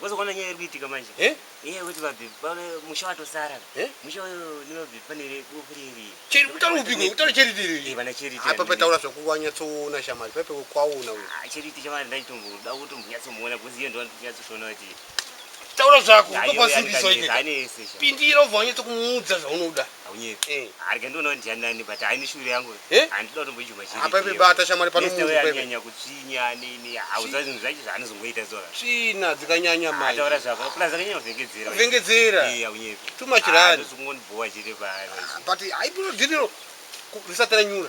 Wazoona nyaya iri kuitika manje. Eh? Iye kuti babhi bale musha watosara. Eh? Musha uyo ni babhi panere bofuriri. Cheri kutara upigwe kutara cheri tiri. Eh bana cheri tiri. Apa pataura zvakuwanya tsoona shamari pepe kwaona uyo. Ah cheri tiri shamari ndai tumbu da kuti mbuya tsomuona kuzi yeye ndo anotya tsoona kuti. Taura zvako uko kwasimbiso ike. Pindira uvanye tokumuudza zvaunoda. Haunyepi. Eh. Ari kendo no ndya nani but I ni shure yangu. Eh? And don't be juma chiri. Apa ipi bata shamari pano munhu kwepe. Anyanya kutsvinya ni ni hauza zvinhu zvacho zvaanozongoita zora. Tsvina dzikanyanya mai. Ataura zvako. Plus akanyanya kuvengedzera. Kuvengedzera. Eh, haunyepi. Too much run. Zvingondibowa chiri pa. But I don't know. Risatira nyura.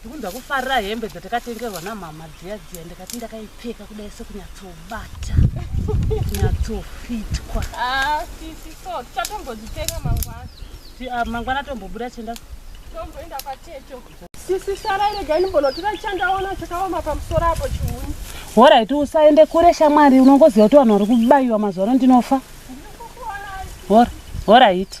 ndikunzwa kufarira hembe dzatakatengerwa namama dziya dziya ndikati ndakaipfeka kudai sekunyatsobata kunyatsofitwa ah, sisi so tichatombozvitenga mangwana ah, mangwana tombobuda chenda tomboenda kwateto sisi sarai regai ndimbonotora chandaona chakaoma pamusoro apo chihuni horaiti usaende kure shamwari unongoziva kuti vanhu vari kubayiwa mazuva ano ndinofa horaiti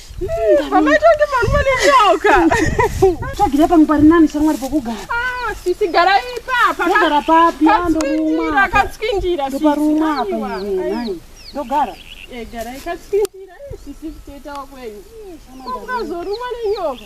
Pamaita kuti vanhu vane nyoka. Tsvagira pangu pari nani shamwari pokugara. Ah, sisi gara ipapa. Ndogara papi? Ndorumwa. Akatswindira. Ndoparumwa apa iwe nhai. Ndogara. Eh, gara ikatswindira. Sisi kutoita wakwenyu. Unozorumwa nenyoka.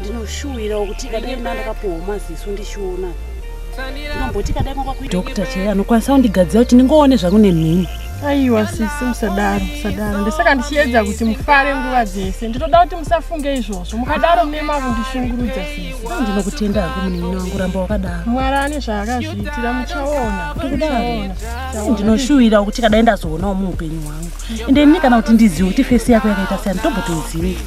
ndinoshuwirawo kuti ikadai mna ndakapuhwa maziso ndichiona ndinomboti ikadai kwakwakuita doctor chaiye anokwanisa kundigadzira kuti ndingoone zvangu nemhini aiwa sisi musadaro musadaro ndisaka ndichiedza kuti mufare nguva dzese ndinoda kuti musafunge izvozvo mukadaro mune makundishungurudza sisi ndinokutenda hako munin'ina wangu ramba wakadaro mwari ane zvaakazviitira muchaona muchaona ndinoshuwira kuti kadai ndazoonawo muupenyu hwangu ende ini kana kuti ndizive kuti fesi yako yakaita seyani tombotoizive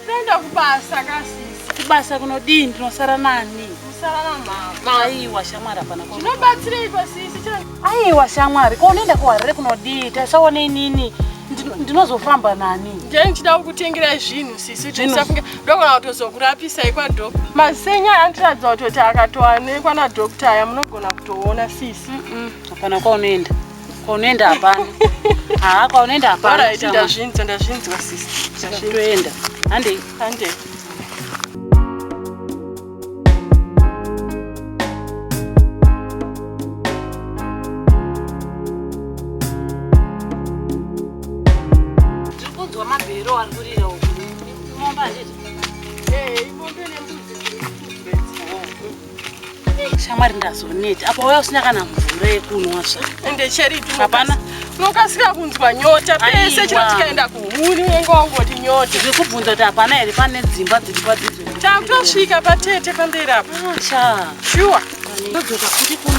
Tinoenda kubasa kasisi. Kubasa kunodii ndinosara nani? Musara na mama. Aiwa shamwari hapana kwa. Tinobatsirei pasisi chero. Aiwa shamwari ko unoenda kuharare kunodii? Tasaone inini. Ndinozofamba nani? Ndiye ndichida kukutengerai zvinhu sisi kuti musafunge ndogona kutozokurapisai kwadhokuta. Masenya anotiratidza kutoti akatoanekwa nadhokuta aya munogona kutoona sisi. Hapana mm -mm. kwaunoenda. Kwaunoenda hapana. Haa kwaunoenda hapana. Alright, ndazvinzwa ndazvinzwa sisi. Toenda. Handei. Handei. Hey, you want to do them? shamwari ndazoneti apa waya usina kana mvura yekunwa zva ende cheriti hapana unokasika kunzwa nyota pese chino tikaenda kuhuni unenge wangoti nyota zviri kubvunza kuti hapana here pane dzimba dziri padzidzo takutosvika patete pamberi apa ah, shuwa ndodzoka kuti kuno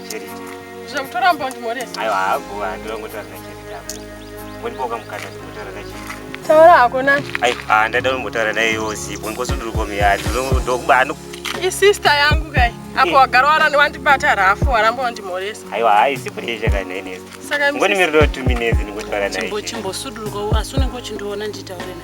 Zvakutora mbonzi moresi. Ayo haago andira ngotaura na chiri tapo. Mboni boka mukanda ngotaura na chiri. Taura hako na. Ayo ah ndada ngotaura na iyo zipo ngoso ndiri komi ya ndiro ndokuba ano. I sister yangu kai. Apo eh. wagara warani wandibata rafu warambo ndi moresi. Ayo hai sipo yesha kai na inesi. Saka mboni miriro 2 minutes ngotaura na iyo. Chimbo chimbo suduruko asune ngochindiona nditaure na.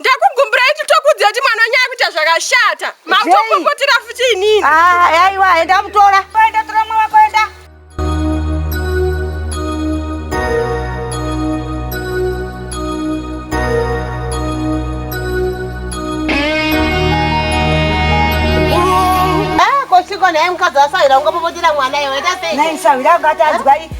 ndakugumburai kuti tokuudza kuti mwana wenyu akuita zvakashata mautopopotera futi inini ah, aiwa enda mutora enda tora mwana wako enda ah, Siko naye mukadzi wasaira ungapopotera mwana iwe enda sei? Naye saira akati anzwai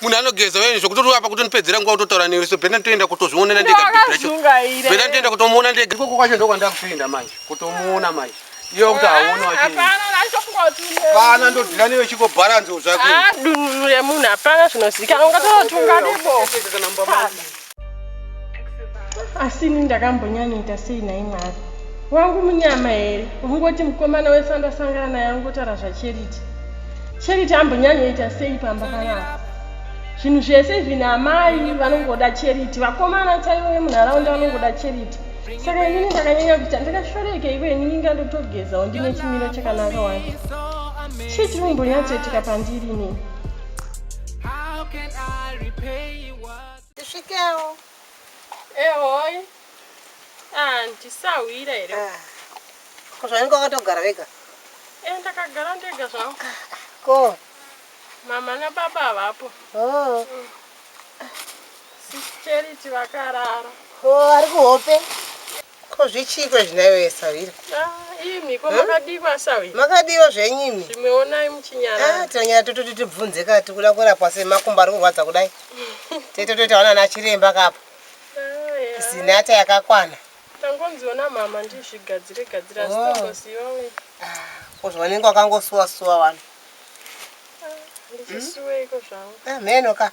munhu anogeza wene zvekuti apa kutonipedzera nguva utotaura newe so bhena nitoenda kutozvionera ndegabhena nitoenda kutomuona ndega ikoko kwacho ndokwandakutoenda manje kutomuona manje iyo kuti hauoni wachipana ndodira newe chiko bharanzi zvakudunhu remunhu hapana zvinozikanwa ungatootunga nebo asi ini ndakambonyanyoita sei nhai mwari wangu munyama here ungoti mukomana wese andasangana naye angotaura zvacharity charity ambonyanyoita sei pamba panapa zvinhu zvese izvi naamai vanongoda charity vakomana chaivo vemunharaunda vanongoda charity saka inini ndakanyanya kuita ndakashoreka ivo inini inga ndotogezawo ndine chimiro chakanaka wani chii chiri kumbonyatsoitika pandiri inini Tisvikewo. Ehoi. Ah, ndisahwira here? Ah. Ko zvainge wakatogara vega? Eh, ndakagara ndega zvangu. Ko mama nababa havapo. Oh. Mm. Sis Charity vakarara. Oh, ari kuhope. Ko zvichiiko izvi nhaiwe Sahwira? Ah, imi ko makadiwa Sahwira? Makadiwa zvenyu imi. Zvimwe onai muchinyara. Ah, tinonyara tototi tibvunze ka tikuda kurapwa sei makumbo ari kurwadza kudai. Tete toita wana na chiremba kapo. Ah, Zinata yakakwana. Tangonziona mama ndizvigadzire gadzira oh. sitongosiwa we. Ah, ko zvanenge wakangosuwa suwa wani. Ah, ndisuwe iko zvangu. Ah, meno ka.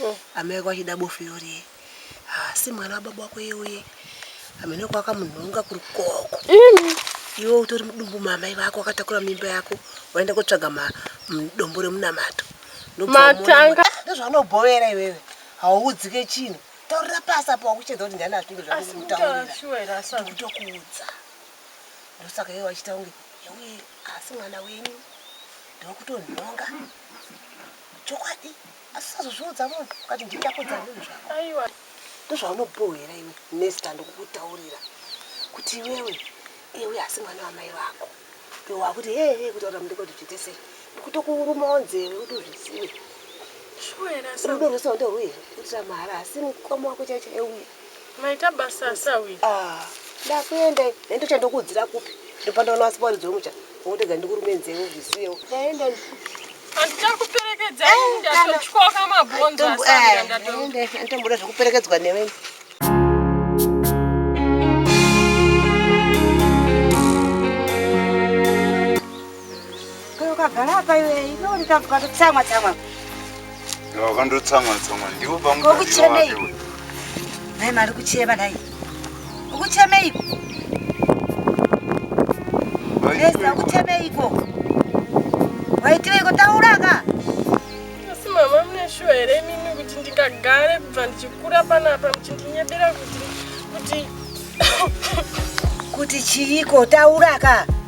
mm. amai vako vachida bofu irori ye haasi mwana wababa wako ye uye amene wako akamunhonga kuri koko mm. iwe utori mudumbu maamai vako wakatakura mimba yako waenda kotsvaga dombo remunamato matanga ndozvaunobhovera iwewe hauudzike chinhu taurira pasi apo wakuchedza kuti ndani azvinge zvakutaurirakutokuudza ndosaka iye wachita kunge yewe asi mwana wenyu ndokutonhonga chokwadi Asi sazozviudza munhu ukati nditapudza munhu zvako. Aiwa. Ndozvaunobohera iwe Nesta ndokukutaurira kuti iwewe iwe asi mwana wamai vako. Iwe wakuti he he kutaura mudeko kuti zviite sei. Ndikutokurumawo nzeve kuti uzvizive. Shuwa here asi. Rudo rwese ndorwei kuitira mahara asi mukoma wako chaicho euya. Maita basa asawi. Ah, ndakuenda nendocha ndokuudzira kupi. Ndopanda wana wasi waridzo mucha. Wotega ndikurume nzeve uzvisiyewo. Ndaenda ndi. Anditakuperekedza eh, ini ndatotyoka mabhonzo eh, asanga ndatoenda. Eh, Antomboda zvekuperekedzwa newe. Ukagara apa iwe inoni tambuka ndotsamwa tsamwa. Wakandotsamwa tsamwa ndiwo pamwe. Kokuchemei. Nhai mari kuchema nhai. Ukuchemei. Ndeza ukuchemei ko. Waitiweiko taura ka? Asi mama mune shuwa here mimi kuti ndikagare kubva ndichikura panapa muchindinyebera kuti kuti kuti chiiko taura ka?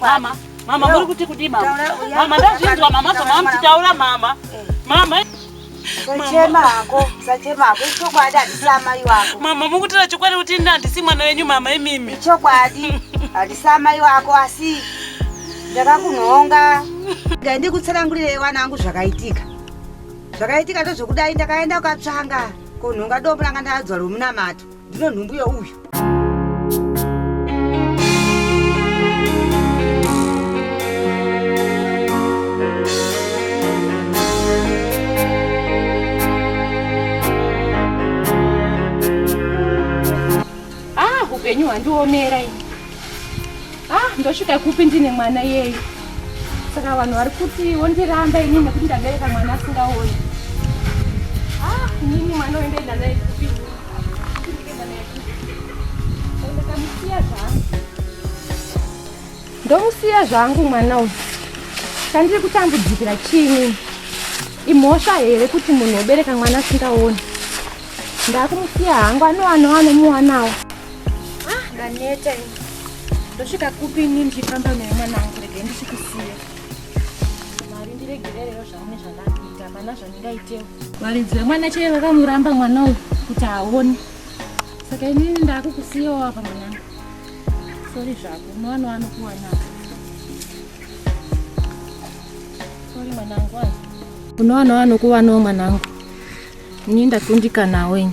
mama mama muri kuti kudii mama mama ndazvinzwa mama zvamamuchitaura mama eh. mama sachema hako sachema hako ichokwadi handisi amai wako mama mukutira chokwadi kuti ini handisi mwana wenyu mama imimi ichokwadi handisi amai wako asi ndakakunhonga dai ndikutsanangurirei wana angu zvakaitika zvakaitika ndozvokudai ndakaenda ukatsvanga kunhonga dombo ranga ndadzwa romunamato ndinonhumbuya uyu ah, upenyu hwandiomera ini ah ndosvika kupi ndine mwana yeyi saka vanhu vari kuti wondiramba ini nekuti ndabereka mwana asingaoni ah nini mwana wendaenda naye kupi ndakamusiya zvangu ndomusiya zvangu mwana uyu chandiri kutambudzikira chiinini imhosva here kuti munhu wobereka mwana asingaoni ndakumusiya hangu anowanowa nomuwanawo Ah, ndaneta ini. Ndosvika kupi ini ndichifamba naye mwana wangu rege ndichikusiya. Mwari ndiregererero zvaune zvandakuita hapana zvandingaitewo. Varidzi vemwana chaiye vakamuramba mwana uyu kuti aone. Saka inini ndakukusiyawo apa mwanangu. Sorry zvako unowana wanokuwana. Sorry mwanangu wangu. Unowana wanokuwanawo mwanangu. Ini ndakundikanawo ini.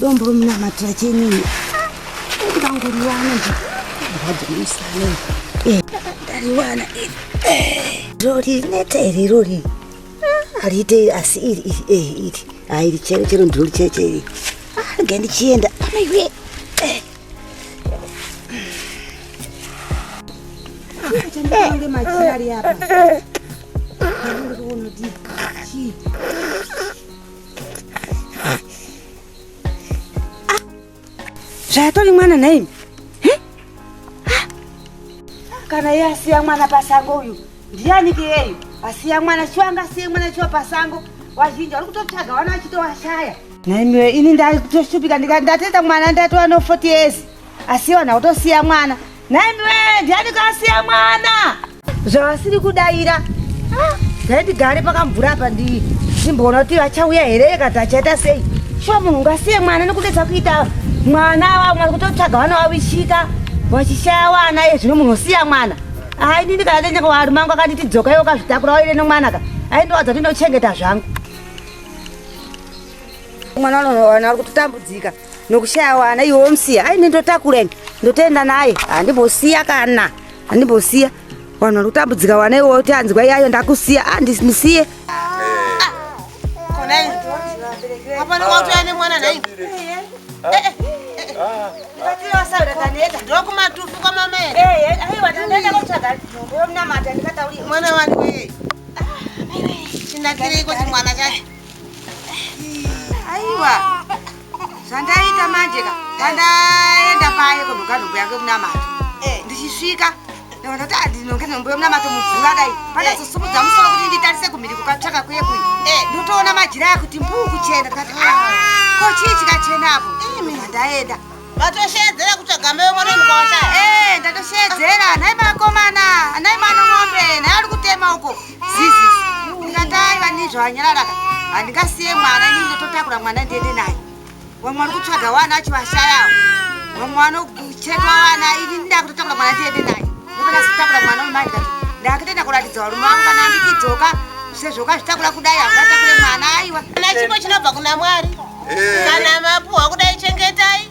dombo romunamatira chenini ndangoriwana nje ndadzomusana ndariwana rori neta iri rori hariite asi iri iri eh, iri ha iri chero chero ndiro richeche iri ah, rega ndichienda amaiwe eh. zvayatori mwana nhaimi kana iye asiya mwana pasango uyu ndiyaniki yeyu asiya mwana chiwa angasiye mwana chiwa pasango vazhinji vari kutotsvaga vana vachitowashaya nhaimiwe ini ndatoshupika ndateta mwana ndatova no 40 years asiwa nhakutosiya mwana nhaimiwe ndiyaniki asiya mwana zvavasiri kudaira dai ndigare pakamvura apa ndimboona kuti vachauya here kana kuti achaita sei shuwa munhu ungasiye mwana nekudedza kuita mwana vamwe vari kutotsvaga vana vavishika vachishaya wana ye zvino munhu osiya mwana ai ndini kana ndenyaka wari mangu akanditi dzoka iwe ukazvitakura waire nemwana ka ai ndowadza kuti ndochengeta zvangu mwana wana ari kutotambudzika nokushaya wana iwe womusiya aine ndotakureni ndotoenda naye handimbosiya kana handimbosiya vanhu vari kutambudzika wana iwe woti anzwa iyayo ndakusiya andisiye ndokumatufu kwamama mwana wani wee chinakirei kuti mwana chacho aiwa zvandaita manje ka pandaenda paye kunoga nhombo yake kunamata eh. ndichisvika ndikaona kuti andinonge nhombo yomunamato mubvura dai eh. pandazosumudza musoro kuti nditarise kumhiri kukatsvaka kuye kuyi eh. ndotoona majira yakuti mbuu kuchena ndikati ah, ah. ko chii chikachena apo ndaenda vatosheedzera kutsvaga mbeyo mwana mukawashaya ndatosheedzera nhai makomana nhai mwana mombe nhai ari kutema uko zizi ungatai vanizvo vanyarara handingasiye mwana ini ndototakura mwana ndiende naye vamwe vari kutsvaga wana acho vashayao vamwe vanochekwa wana ini ndida kutotakura mwana ndiende naye ndopana kutakura mwana wemai ndikati ndakatoenda kuratidza varume vangu kana andikidzoka sezvokazvitakura kudai hangatakure mwana aiwa kana chipo chinobva kuna mwari eh. kana mapuhwa kudai chengetai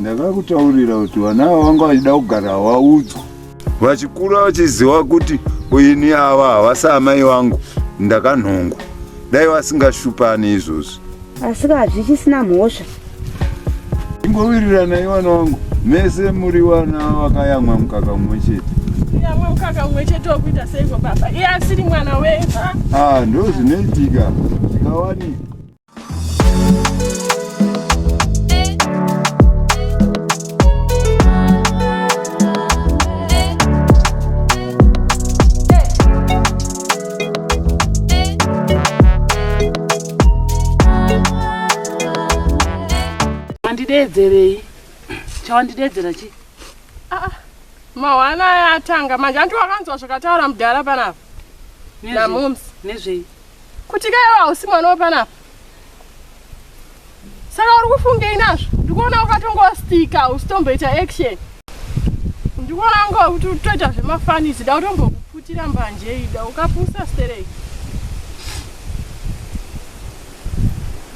ndakakutaurira kuti vana ava vanga vachida kugara vaudzwa vachikura vachiziva kuti ini ava havasi amai vangu ndakanhongwa dai vasingashupani izvozvi asi ka hazvichisina mhosva ingowirirana ivana wangu mese muri vana vakayamwa mukaka mumwe chete yamwa mukaka mumwe chete wekuita seiko baba iye asiri mwana weva ah, ndo zvinoitika zvikawanika wandideedzerei chawandideedzera chi ah, ah. mahwana aya atanga manje anti wakanzwa zvakataura mudhara panapa namums nezvei kuti ka iwe hausi mwana wepanapa saka uri kufungei nazvo ndikuona ukatongostika usitomboita action ndikuona unga kuti utoita zvemafanisi da utombokuputira mbanje ida ukapusa stereki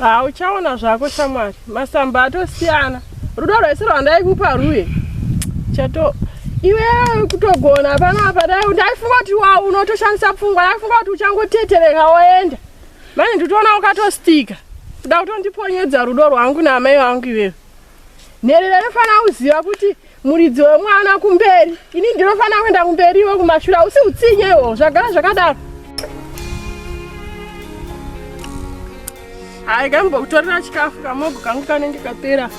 hauchaona zvako shamwari masamba atosiyana rudo rwese rwandaikupa rwuye chato iwe kutogona panapa ndaifunga kuti wa unotoshandisa pfungwa ndaifunga kuti uchangotetereka woenda mani nditoona ukatostika kuda kutondiponyedza rudo rwangu naamai vangu iwewe nherera inofanira kuziva kuti muridzi wemwana kumberi ini ndinofanira kuenda kumberi iwe kumashure hausi utsinyewo zvagara zvakadaro hayi kambokutorera chikafu kamogo kangu kanenge kapera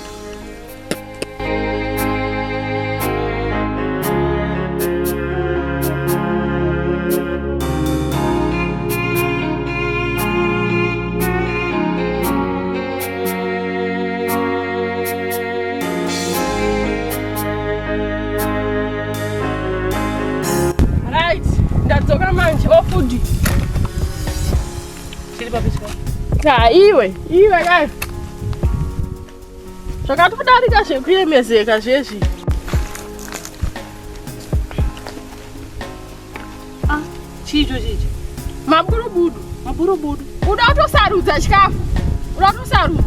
Right, ndadzoka manje ofudi. Oh, Tiri papi chikoro? Ha, iwe, iwe kai. Zvakatodarika zvekuyemezeka zvezvi. Ah, chicho chicho. Maburubudu, maburubudu. Uda kutosarudza chikafu. Uda kutosarudza.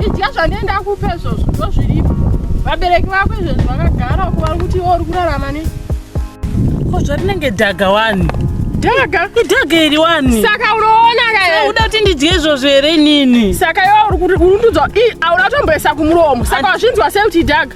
Idya zvandienda kupe izvozvo ndozviripo. Vabereki vako izvozvo vakagara uko vari kuti iwe uri kurarama nei? Ko zvarinenge dhaga wani? Dhaga? Idhaga iri wani? Saka unoona ka uda kuti ndidye izvozvo here nini? Saka iwe uri kuti uri kutudza i auna kutomboisa kumuromo. Saka wazvinzwa sei kuti idhaga?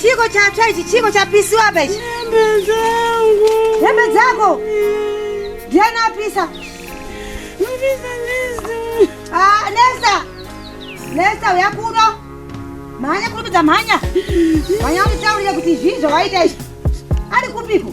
Chiko chatsva ichi, chiko chapisiwa apa ichi. Hembe dzangu. Hembe dzako. Ndiani apisa? Apisa Nesta. Ah, Nesta. Nesta uya kuno. Mhanya kurumidza mhanya. Mhanya unditaurire kuti zvii zvawaita izvi. Ari kupiko?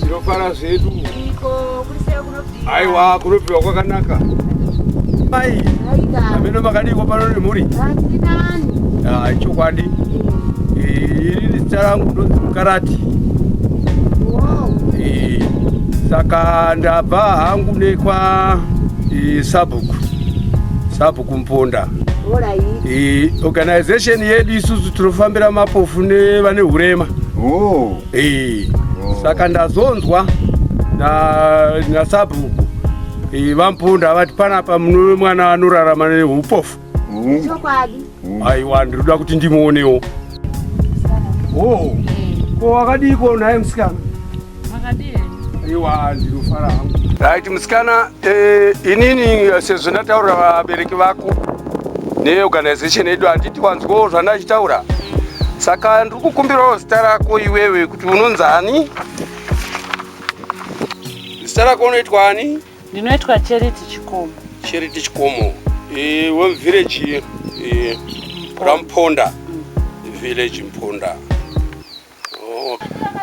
Tinofara zvedu. Aiwa kunobviwa kwakanaka. Mai. Ameno makadiko pano nemhuri. Ah, chokwadi. Eh, iri zita rangu ndonzi Mukarati. Wow. Eh. saka ndabva hangu nekwa e, sabhuku sabhuku mponda e, organization yedu isusu tinofambira mapofu nevane hurema oh. e, oh. saka ndazonzwa nasabhuku na e, vamponda vati panapa mune mwana anorarama neupofu Chokwadi. Aiwa ndinoda kuti ndimuonewo. Oh. Ko wakadiko naye msikana? Makadii? Aiwa ndinofara hangu. Right msikana, eh, inini eh, sezvo ndataura vabereki vako neorganization yedu handiti wanzwawo zvandachitaura saka ndiri kukumbirawo zita rako iwewe kuti unonzi ani zita rako unoitwa ani Ndinoitwa Charity Chikomo. Charity Chikomo. Eh, one village eh Ramponda. Mm. Village Mponda. Oh.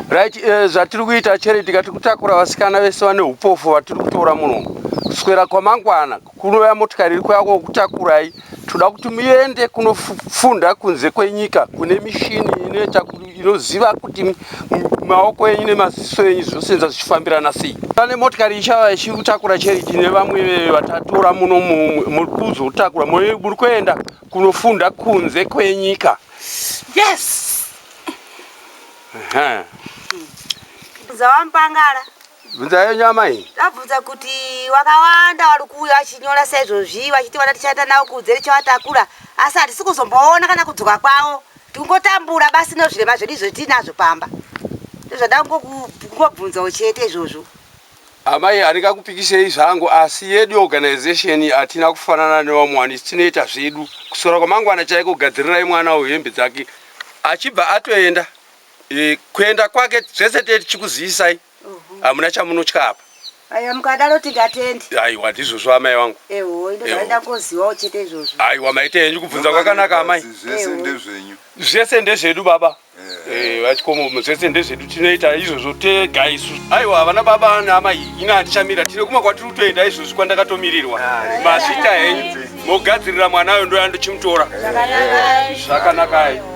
Right, eh, zvatiri kuita Charity katiri kutakura vasikana vese vane upofu vatiri kutora muno. Kuswera kwamangwana kunoya motikari iri kwako kutakurai. Toda kuti muende kunofunda kunze kwenyika kune mishini inoita inoziva kuti maoko enyu nemaziso enyu zvinosenza zvichifambirana sei. Pane motikari ichava ichikutakura cheriti nevamwe vatatora muno muri kuzotakura muri kuenda kunofunda kunze kwenyika. Yes. Zawampangala. Bvunza yenyu amai. Ndabvunza kuti wakawanda wari kuuya vachinyora saizvozvi vachiti vana tichaita navo kunze tichivatakura asi hatisi kuzomboona kana kudzoka kwavo tikungotambura basi nozvirema zvedu izvo tiinazvo pamba ndozvada kungobvunzawo chete izvozvo amai handingakupikisei zvangu asi yedu organization hatina kufanana nevamwe wani tinoita zvedu kusora kwamangwana chaiko gadzirirai mwana uhembe dzake achibva atoenda e, kuenda kwake zvese tichikuzivisai hamuna chamunotya apa aiwa mukadaro tingatendi aiwa ndizvozvo amai vangu ewo indozaenda ngoziwawo chete izvozvo aiwa maite henyu kubvunza kwakanaka amai zvese ndezvenyu zvese ndezvedu baba eh, vachikomo eh, zvese ndezvedu tinoita izvozvo tega isu aiwa havana baba naamai ina handichamira tine kumwe kwatiri kutoenda izvozvi kwandakatomirirwa masvita henyu mogadzirira mwana ayo ndoyandochimutora zvakanakai